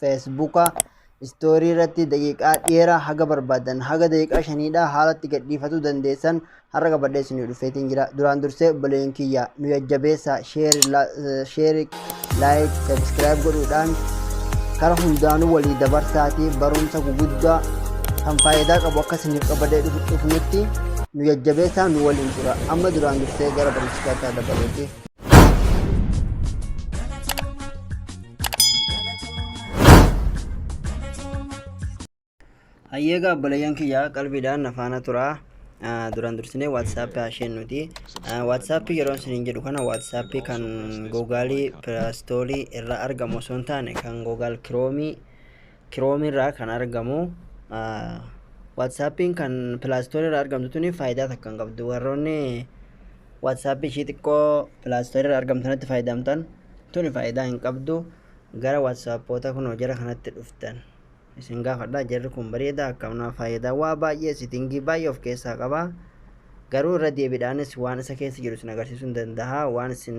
Feesbuuka istoorii irratti daqiiqaa dheeraa haga barbaadan haga daqiiqaa shaniidhaa haalatti gadhiifatuu dandeessan har'a qabadhee isinii dhufeetiin jira. Duraan dursee obboleeyyan kiyya nu jajjabeessa sheeri laayik sabiskiraayib godhuudhaan kara hundaanuu walii dabarsaatii barumsa guguddaa kan faayidaa qabu akka isiniif qabadee dhufnutti nu jajjabeessaa nu waliin tura amma duraan dursee gara barumsa keessaa dabaluuti. Hayyeegaa obboleeyyan kiyyaa qalbiidhaan na faana turaa. Ah, Duraan dursinee WhatsApp hasheen nuti. Ah, WhatsApp yeroo isiniin jedhu kana WhatsApp kan Google Play Store irra argamu osoo hin taane kan Google Chrome Chrome irraa kan argamu WhatsAppiin kan Play Store irraa argamtu tuni faayidaa takka hin qabdu warroonni WhatsApp ishii xiqqoo Play Store irraa argamtu kanatti fayyadamtan tuni faayidaa hin qabdu gara WhatsAppoota kunoo jara kanatti dhuftan isin gaafadha jarri kun bareeda akkamna faayidaa waa baay'ee sitingii baay'ee of keessaa qaba garuu irra deebiidhaanis waan isa keessa jiru isin agarsiisuu hin danda'a waan isin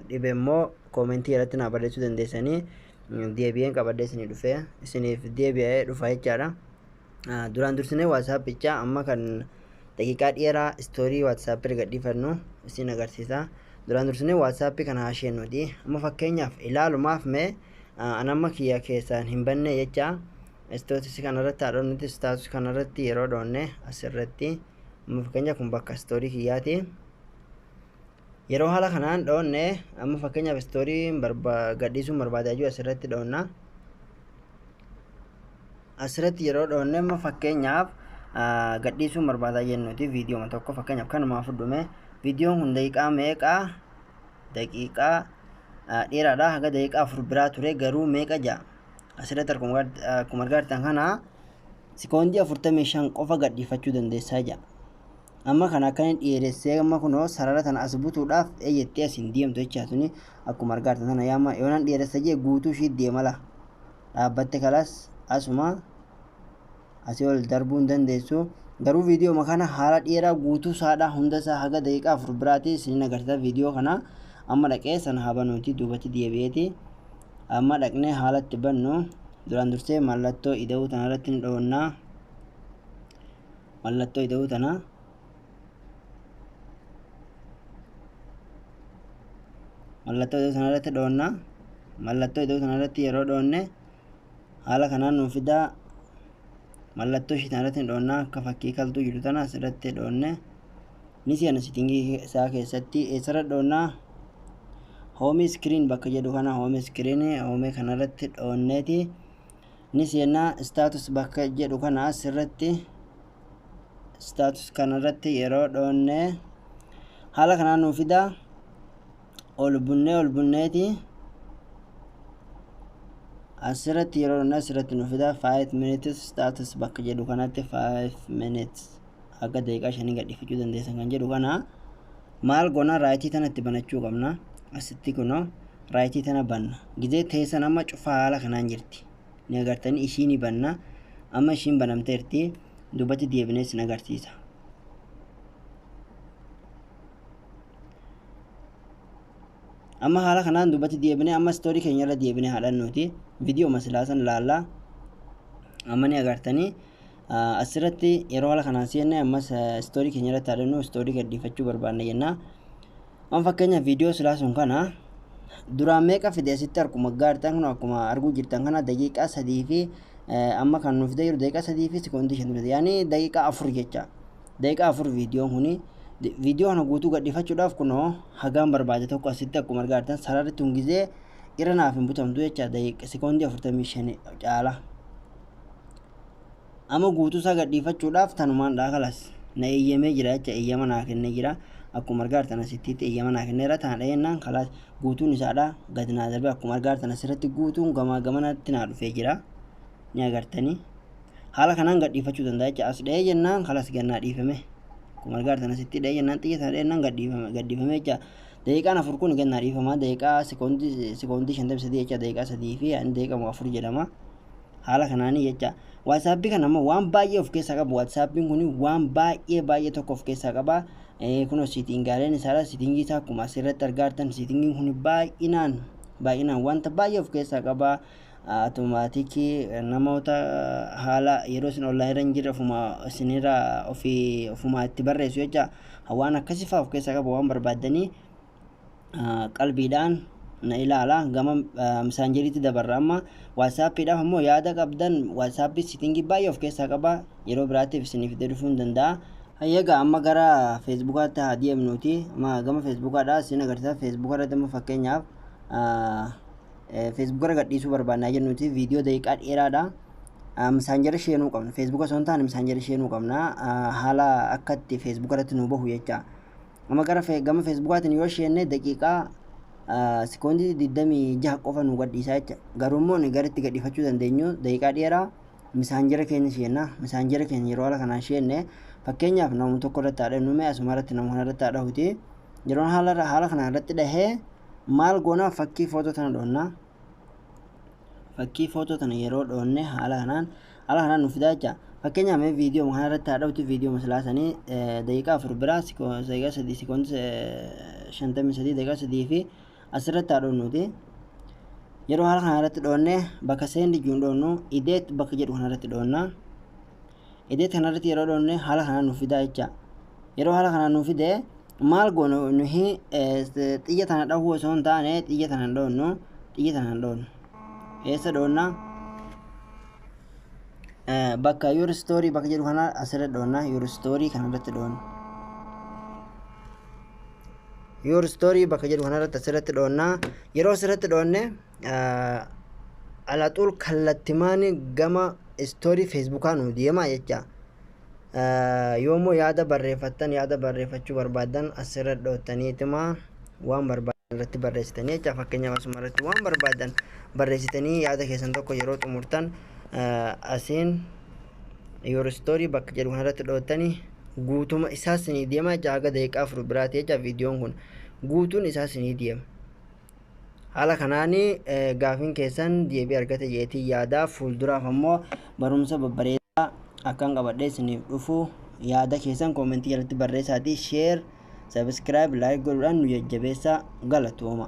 dhibe immoo koomentii irratti naa barreessuu dandeessanii deebi'een qabadhee isinii dhufee isiniif deebi'ee dhufa jechaadha. Ah, Duraan dursinee waatsaappicha amma kan daqiiqaa dheeraa istoorii waatsaappi erga dhiifannu isin agarsiisa. Duraan dursinee waatsaappi kana hasheen nuti amma fakkeenyaaf ilaalumaaf mee ah, an amma kiyya keessaan hin banne jecha istootisi kanarratti haa dhoonnuti istaatus kanarratti yeroo dhoonne asirratti amma fakkeenyaaf kun bakka istoorii kiyyaati. Yeroo haala kanaan dhoonne amma fakkeenyaaf istoorii gadhiisuun barbaada jechuudha asirratti dhoonna. Asirratti yeroo dhoonne amma fakkeenyaaf gadhiisuun barbaada jennuuti viidiyooma tokko fakkeenyaaf kanumaa fudhume viidiyoon kun daqiiqaa meeqa daqiiqaa dheeraadha haga daqiiqaa afur biraa ture garuu meeqa ja'a asirratti akkuma argaa jirtan kana sikoondii afurtamii shan qofa gadhiifachuu dandeessaa ja'a. amma kana akka inni dheeressee amma kunoo sarara tana as butuudhaaf ee jettee as hin deemtu jechaa tuni akkuma argaa jirtan tana yaama yoonan dheeressa jee guutuu ishii deema laa dhaabbatte kalaas asuma asii ol darbuu hin dandeessu garuu viidiyooma kana haala dheeraa guutuu saadhaa hunda isaa haga daqiiqaa afur biraatii isinin agarsiisa viidiyoo kana amma dhaqee sana haa banuuti duubatti deebi'eeti amma dhaqnee haalatti bannu duraan dursee mallattoo ida'uu tanarratti ni dhoonnaa mallattoo ida'uu tanaa mallattoo ida'uu sana irratti dhoonna mallattoo ida'uu sana irratti yeroo dhoonne haala kanaan nuuf fidaa mallattoo ishii tana irratti dhoonna akka fakkii kaltuu jiru tana asirratti dhoonne ni seena sitingii isaa keessatti eessarra dhoonnaa hoomii iskiriin bakka jedhu kana hoomii iskiriin hoomii kanarratti dhoonneeti. ni seenna status bakka jedhu kana asirratti status kanarratti yeroo dhoonne haala kanaa nuu fida ol bunnee ol bunneeti asirratti yeroo dhoonne asirratti nuu fida 5 minutes status bakka jedhu kanatti 5 minutes haga daqiiqaa shanii gadhiifachuu dandeessan kan jedhu kana Maal gona right tana itti banachuu qabna asitti kuno right tana banna gizee teessan amma cufaa haala kanaan jirti ni agartanii ishii ni banna amma ishiin banamteerti duubatti deebinee isin agarsiisa amma haala kanaan duubatti deebinee amma istoorii keenya irra deebinee haadhannuuti viidiyoo masilaasan laallaa amma ni agartanii Asirratti yeroo haala kanaan seenne ammas istoorii keenya irratti haadannoo istoorii gadhiifachuu barbaanna jenna. Waan fakkeenya viidiyoo silaa sun kana duraan meeqa fide asitti harkuma gaartan kun akkuma arguu jirtan kana daqiiqaa sadii fi amma kan nuuf jiru daqiiqaa sadii fi sekoondii shan fide yaani daqiiqaa afur jecha daqiiqaa afur viidiyoon kuni viidiyoo kana guutuu gadhiifachuudhaaf kunoo hagaan barbaade tokko asitti akkuma argaa jirtan sararri tun gizee irra naaf hin butamtu jecha daqiiqa sekoondii afurtamii shan caala. Amma guutuusaa gadhiifachuudhaaf tanumaan dhaa kalas na eeyyamee jira jecha eeyyama naa kennee jira. Akkuma argaa jirtan asittiitti eeyyama naa kenneera tana dhahennaan kalas guutuun isaadhaa gad naa darbee akkuma argaa jirtan asirratti guutuun gamaa gamanatti naa dhufee jira. Ni agartanii. Haala kanaan gadhiifachuu danda'a jecha as dhahee jennaan kalas gad naa dhiifame. Akkuma argaa jirtan asitti dhahee jennaan xiyya sana dhahennaan gadhiifame gadhiifame jecha daqiiqaan afur kun gad naa dhiifama daqiiqaa sekoondii sekoondii shantamii sadii jecha daqiiqaa sadii fi ani daqiiqaa afur jedhama. haala kanaanii jecha waasaappi kana immoo waan baay'ee of keessaa qabu waasaappiin kun waan baay'ee baay'ee tokko of keessaa qaba kunoo siitingaaleen isaadha siitingii isaa akkuma asirratti argaa jirtan siitingiin kun baay'inaan baay'inaan wanta baay'ee of keessaa qaba automaatikii namoota haala yeroo isin online irra hin jirre ofuma isinirra ofii ofumaa itti barreessu jecha waan akkasii fa'aa of keessaa qaba waan barbaaddanii qalbiidhaan na ilaala gama misaanjeriitti dabarra amma waatsaappiidhaaf ammoo yaada qabdan waatsaappii sitingii baay'ee of keessaa qaba yeroo biraatiif isiniif itti dhufuu hin danda'a. Hayyaga amma gara feesbuukaatti haa deemnuuti amma gama feesbuukaadha isin agarsiisa feesbuuka irratti amma fakkeenyaaf feesbuuka irra gadhiisuu barbaannaa jennuuti viidiyoo daqiiqaa dheeraadha. misaanjara sheenuu qabna feesbuuka osoo hin taane misaanjara sheenuu qabna haala akkatti feesbuuka irratti nu bahu jecha Amma gara fe- gama Feesbuukaatiin yoo sheenne daqiiqaa ah, sekoondii 26 qofa nu gadhiisaa jecha. Garuu immoo ni garitti gadhiifachuu dandeenyu daqiiqaa dheeraa misaanjera keenya sheenna. Misaanjera keenya yeroo haala kanaan sheenne fakkeenyaaf nama tokko irratti haa dhahnu mee asuma irratti nama kana irratti haa dhahuti. Yeroo haala, haala kanaan irratti dhahee maal goonaa fakkii footoo tana dhoonna. fakkii footoo tana yeroo dhoonne haala kanaan haala kanaan nuuf fidaa jecha fakkeenyaaf mee viidiyoo kana irratti haa dhawutu viidiyoo masalaa sanii daqiiqaa afur biraa daqiiqaa sadii sikoon shantamii sadii daqiiqaa sadii fi asirratti haa dhoonnuuti yeroo haala kana irratti dhoonne bakka seendi juun dhoonnu ideet bakka jedhu kana irratti dhoonna ideet kana irratti yeroo dhoonne haala kanaan nuuf fidaa jecha yeroo haala kanaan nuuf fidee maal goonu nuhi xiyya tana dhahuu osoo hin taane xiyya tana hin dhoonnu xiyya tana hin dhoonnu eessa dhoonna bakka your story bakka jedhu kana asirra dhoonna your story kana irratti dhoonna your story bakka jedhu kana irratti asirratti dhoonna yeroo asirratti dhoonne alaxuul kallattimaan gama story feesbuukaa nu deema jecha Yoo immoo yaada barreeffattan yaada barreeffachuu barbaaddan asirra dhoottaniituma waan barbaaddan irratti barreessitanii jecha fakkeenyaaf asuma irratti waan barbaaddan barreessitanii yaada keessan tokko yeroo xumurtan asiin your story bakka jedhu kanarratti dhoottanii guutuma isaas ni deema jecha haga daqiiqaa afur biraati jecha viidiyoon kun guutuun isaas ni deema. Haala kanaan gaafiin keessan deebii argate jeetii yaada fuulduraaf ammoo barumsa babbareedaa akkan qabadhee isiniif dhufu yaada keessan koomentii jalatti barreessaatii sheer sabiskiraayib laayik godhuudhaan nu jajjabeessaa galatooma.